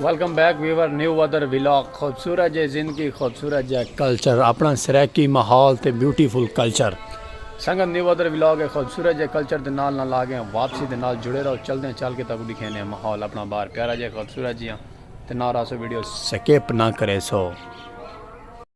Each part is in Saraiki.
ویلکم بیک ویور نیو ودر ویلاگ خوبصورت جے زندگی خوبصورت جے کلچر اپنا سریکی ماحول تے بیوٹیفل کلچر سنگت نیو ودر ویلاگ ہے خوبصورت جے کلچر دے نال نال آ گئے ہیں واپسی دے نال جڑے رہو چل دیں چل کے تاکو دکھینے ہیں ماحول اپنا بار پیارا جے خوبصورت جی ہاں تے نہ راسو ویڈیو سکیپ نہ کرے سو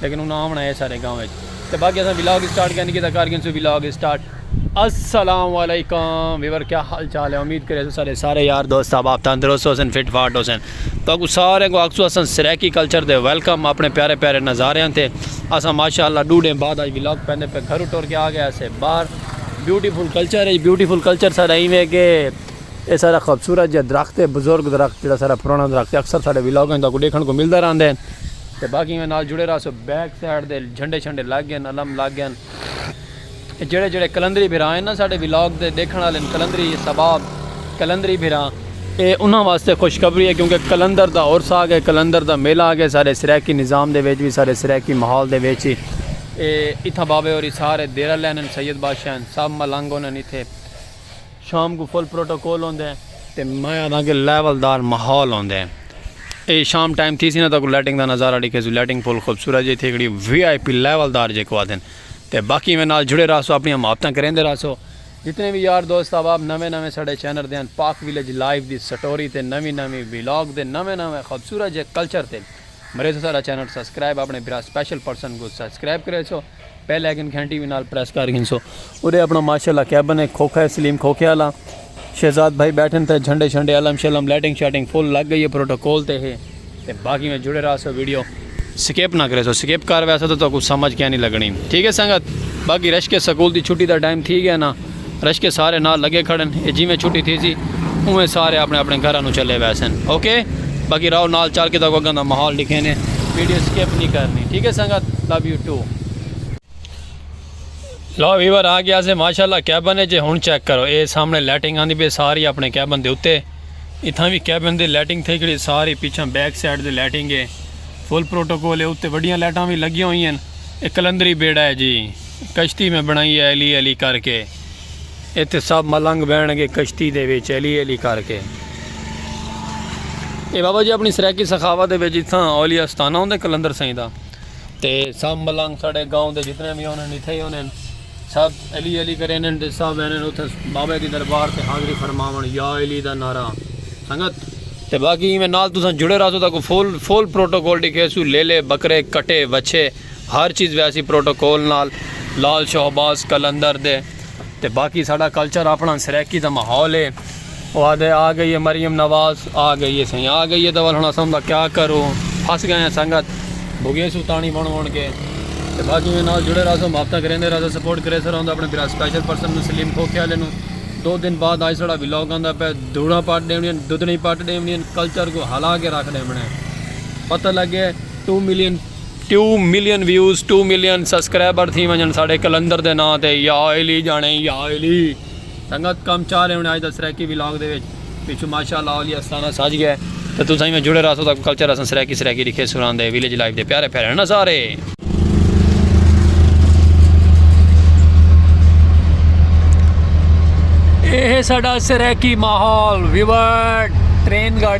لیکن انہاں آونا ہے سارے گاؤں وچ تے باقی اساں ولاگ اسٹارٹ کینی کیتا کر گئے سو ولاگ اسٹارٹ السلام علیکم ویور کیا حال چال ہے امید کرے سو سارے سارے یار دوست صاحب آپ تندرست حسین فٹ فاٹ حسین تو اگو سارے کو اکسو اساں سریکی کلچر دے ویلکم اپنے پیارے پیارے نظارے ہیں تے اساں ماشاءاللہ ڈو ڈے بعد آج ولاگ پہنے پہ گھر اٹھور کے آ گئے اسے باہر بیوٹیفل کلچر ہے بیوٹیفل کلچر سارا ایویں کہ اے سارا خوبصورت جا درخت ہے بزرگ درخت جیڑا سارا پرانا درخت ہے اکثر سارے ولاگ ہیں تاکہ دیکھن کو ملدہ رہندے ہیں تے باقی میں نال جڑے رہا سو بیک سائیڈ دے جھنڈے چھنڈے لگ گئے ہیں علم لگ گئے ہیں جیڑے جیڑے کلندری بھرا ہیں نا سارے ولاگ دے دیکھن والے کلندری سباب کلندری بھرا اے انہاں واسطے خوشخبری ہے کیونکہ کلندر دا اور سا آگے کلندر دا میلہ آگے سارے سریکی نظام دے ویچ بھی سارے سریکی محال دے ویچ ہی اے اتھا بابے اور سارے دیرہ لین ہیں سید بادشاہ ہیں سب ملنگ ہونے ہیں اتھے شام کوں فل پروٹوکول ہوندے تے میں آدھاں کہ لیول دار ماحول ہوندے اے شام ٹائم تھی سی نا تاکو لائٹنگ دا نظارہ ڈیکھے سو لائٹنگ فل خوبصورت جی تھی کھڑی وی آئی پی لیول دار جے کو آدھن تے باقی میں نال جڑے رہسو اپنی محبتاں کریندے رہسو جتنے وی یار دوست احباب نویں نویں ساڈے چینل دیاں پاک ویلیج لائیو دی سٹوری تے نویں نویں ویلاگ دے نویں نویں خوبصورت جے کلچر تے مریسو ساڈا چینل سبسکرائب اپنے بھرا سپیشل پرسن کو سبسکرائب کریسو۔ پہلے اکن کھین ٹی وی نال پریس کر گھنسو اورے اپنا ماشاء اللہ کیبن ہے کھوکھا ہے سلیم کھوکھے والا شہزاد بھائی بیٹھن تھے جھنڈے شنڈے علم شلم لائٹنگ شائٹنگ فل لگ گئی ہے پروٹوکول تے ہے تے باقی میں جڑے رہا سو ویڈیو سکپ نہ کرے سو سکپ کر ویسا تو تو کچھ سمجھ کیا نہیں لگنی ٹھیک ہے سنگت باقی رش کے سکول دی چھٹی دا ٹائم تھی گیا نا رشکے سارے نال لگے کھڑن اے جیویں چھٹی تھیسی اونویں سارے اپنے اپنے گھراں نو چلے ویسن اوکے باقی راؤ نال چل کے تاکو اگاں دا ماحول ڈکھینے ویڈیو سکپ نہیں کرنی ٹھیک ہے سنگت love you too love viewer آ گیا سے ماشاءاللہ کیبن اچ ہن چیک کرو اے سامنے لائٹنگ آندی پے ساری اپنے کیبن دے اتے اتھاں وی کیبن دی لائٹنگ تھئی کھڑی ساری پیچھے بیک سائیڈ دی لائٹنگ ہے فل پروٹوکول ہے اتے وڈیاں لائٹاں وی لگیاں ہوئی ہیں اے کلندری بیڑا ہے جی کشتی میں بنائی ہے ایلی ایلی کر کے اتھے سب ملنگ بہن گے کشتی دے وچ ایلی ایلی کر کے اے بابا جی اپنی سرائیکی سخاوت دے وچ اتھاں اولیاء استانہ ہوندے کلندر سائیں دا تے سب ملنگ ساڑے گاؤں دے جتنے بھی ہونے اتھے ہی ہونے سب ایلی ایلی کرے انہیں دے سب انہیں اتھے بابا دی دربار تے حاضری فرماون یا ایلی دا نعرہ سنگت تے باقی میں نال تساں جڑے رہا سو تاکو فول فول پروٹوکول ڈکھے سو لیلے بکرے کٹے وچھے ہر چیز ویسی پروٹوکول نال لال شہباز قلندر دے تے باقی ساڈا کلچر اپنا سرائیکی دا ماحول ہے او آدھے آ گئی ہے مریم نواز آ گئی ہے سائیں آ گئی ہے تے ول ہن اساں دا کیا کروں پھس گئے ہیں سنگت بھگے سو تانی بن بن کے تے باقی میں نال جڑے رہسو ہفتہ کریندے رہسو سپورٹ کرے سر ہوندا اپنے برا سپیشل پرسن نو سلیم کھوکھے والے نو دو دن بعد آج سڑا ویلاگ آندا پہ دوڑا پٹ ڈیونی دودنی پٹ ڈیونی کلچر کو ہلا کے رکھ ڈیونی پتہ لگے two million two million views two million subscriber تھی ونجن ساڈے کلندر دے ناں تے یا علی جانے یا علی سنگت کم چاہ رہے ہونے آج دا سرائیکی ولاگ دے وچ پچھو ماشاءاللہ علی استانہ سج گئے تے تساں ایویں جڑے رہسو تاکو کلچر اساں سرائیکی سرائیکی ڈکھے سران دے ویلیج لائف دے پیارے پیارے نا سارے۔ اے ہے ساڈا سرائیکی ماحول ویور ٹرین گاڑی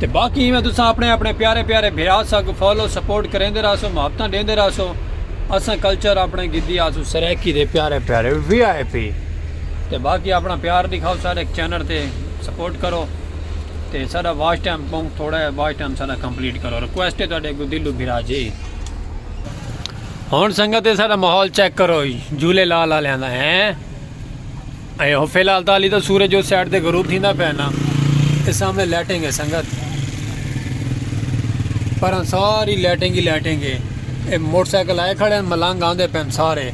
تے باقی ایویں تساں اپنے اپنے پیارے پیارے بھرا ساکوں فالو سپورٹ کریندے رہسو محبتاں ڈیندے رہسو اساں کلچر اپنے گدی آسوں سرائیکی دے پیارے پیارے وی آئی پی تے باقی اپنا پیار دکھاؤ سارے چینل تے سپورٹ کرو تے سارا واش ٹائم پونگ تھوڑا ہے واش ٹائم سارا کمپلیٹ کرو ریکویسٹ ہے تواڈے کو دلو بھرا جی ہن سنگت سارا ماحول چیک کرو جھولے لال والے ہیں اے ہو فی الحال تالی دا سورج جو سائیڈ دے غروب تھیندا پیا نا اس سامنے لیٹنگ ہے سنگت پر ہاں ساری لیٹنگ ہی لیٹنگ ہے اے موٹر سائیکل آئے کھڑے ہیں ملنگ آندے پین سارے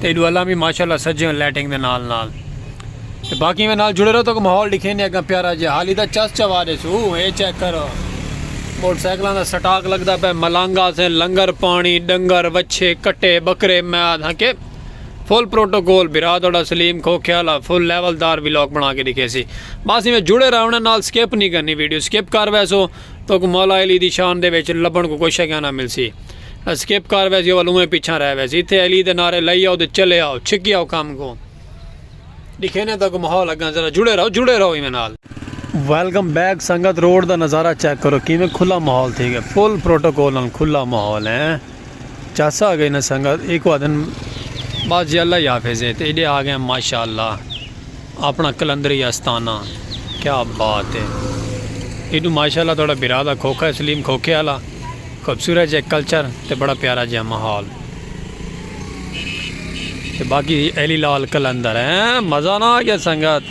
تے ایڈو اللہ بھی ماشاءاللہ سجے ہیں لیٹنگ دے نال نال تے باقی میں نال جڑے رہو تو ماحول دکھے نہیں اگا پیارا جے حالی دا چس چوا دے سو اے چیک کرو موٹر سائیکلاں دا سٹاک لگدا پے ملنگ آسے لنگر پانی ڈنگر وچھے کٹے بکرے میاد ہاں کہ فل پروٹوکول بھرا تہاڈا سلیم کھوکھے آلا فل لیول دار ولاگ بنا کے دکھیسی بس ایویں جڑے رہو نا نال سکپ نہیں کرنی ویڈیو سکپ کر ویسو توکوں مولا علی دی شان دے وچ لبھن کوں کوئی شگے نا ملسی سکپ کر ویسیو ول اوویں پیچھاں رہ ویسی ایتھے علی دے نعرے لائی آؤ تے چلے آؤ چھکی آؤ کم کوں دکھینے تاکوں ماحول اگاں ذرا جڑے رہو جڑے رہو ایویں نال ویلکم بیک سنگت روڈ دا نظارہ چیک کرو کیویں کھلا ماحول تھی گئے فل پروٹوکول نال کھلا ماحول ہیں چاسا آگئی نا سنگت ایکو آدھن بس جی اللہ ہی حافظ ہے تے ایڈے آگئے ماشاءاللہ اپنا کلندری آستانہ کیا بات ہے ایڈو ماشاءاللہ توڑا برا دا کھوکھا سلیم کھوکھے آلا خوبصورت جے کلچر تے بڑا پیارا جے محال تے باقی ایلی لال کلندر ہیں مزہ نہ آگیا سنگت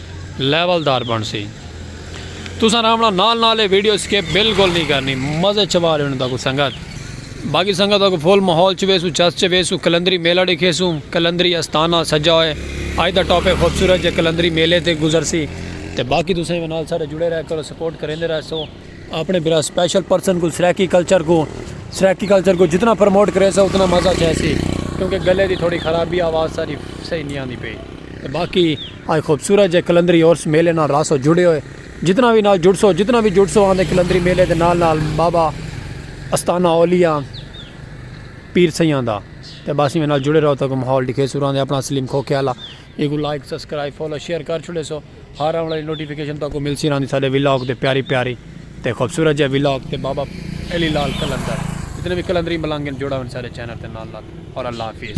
لیول دار بن سی تساں رامنا نال نال اے ویڈیو سکپ بالکل نہیں کرنی مزے چھوا رہے انہاں کو سنگت باقی سنگت کو فل ماحول چ ویسو چس چ ویسو کلندری میلہ ڈیکھیسو کلندری استانہ سجا ہوئے اج دا ٹاپک خوبصورت جے کلندری میلے تے گزر سی تے باقی تساں ایویں نال سارے جڑے رہ کرو سپورٹ کریندے رہ سو اپنے بلا اسپیشل پرسن کو سرائیکی کلچر کو سرائیکی کلچر کو جتنا پروموٹ کرے سو اتنا مزہ چھے سی کیونکہ گلے دی تھوڑی خرابی آواز ساری صحیح نہیں آندی پئی باقی آئے خوبصورت جے قلندری عرس میلے نال رہسو جڑے ہوئے جتنا وی نال جڑسو جتنا وی جڑسو آندے قلندری میلے دے نال نال بابا استانہ اولیاء پیر سیاں دا تے بس ایویں نال جڑے رہو تاکہ ماحول ڈکھے سو راندے اپنا سلیم کھوکھے والا ایکو لائک سبسکرائب فالو شیئر کر چھڑے سو ہر آن والی نوٹیفیکیشن تاکہ مل سی راندی سارے ولاگ تے پیاری پیاری تے خوبصورت جے ولاگ تے بابا علی لال قلندر جتنے وی قلندری ملنگ ہیں جڑا ہوئے سارے چینل تے نال نال اور اللہ حافظ.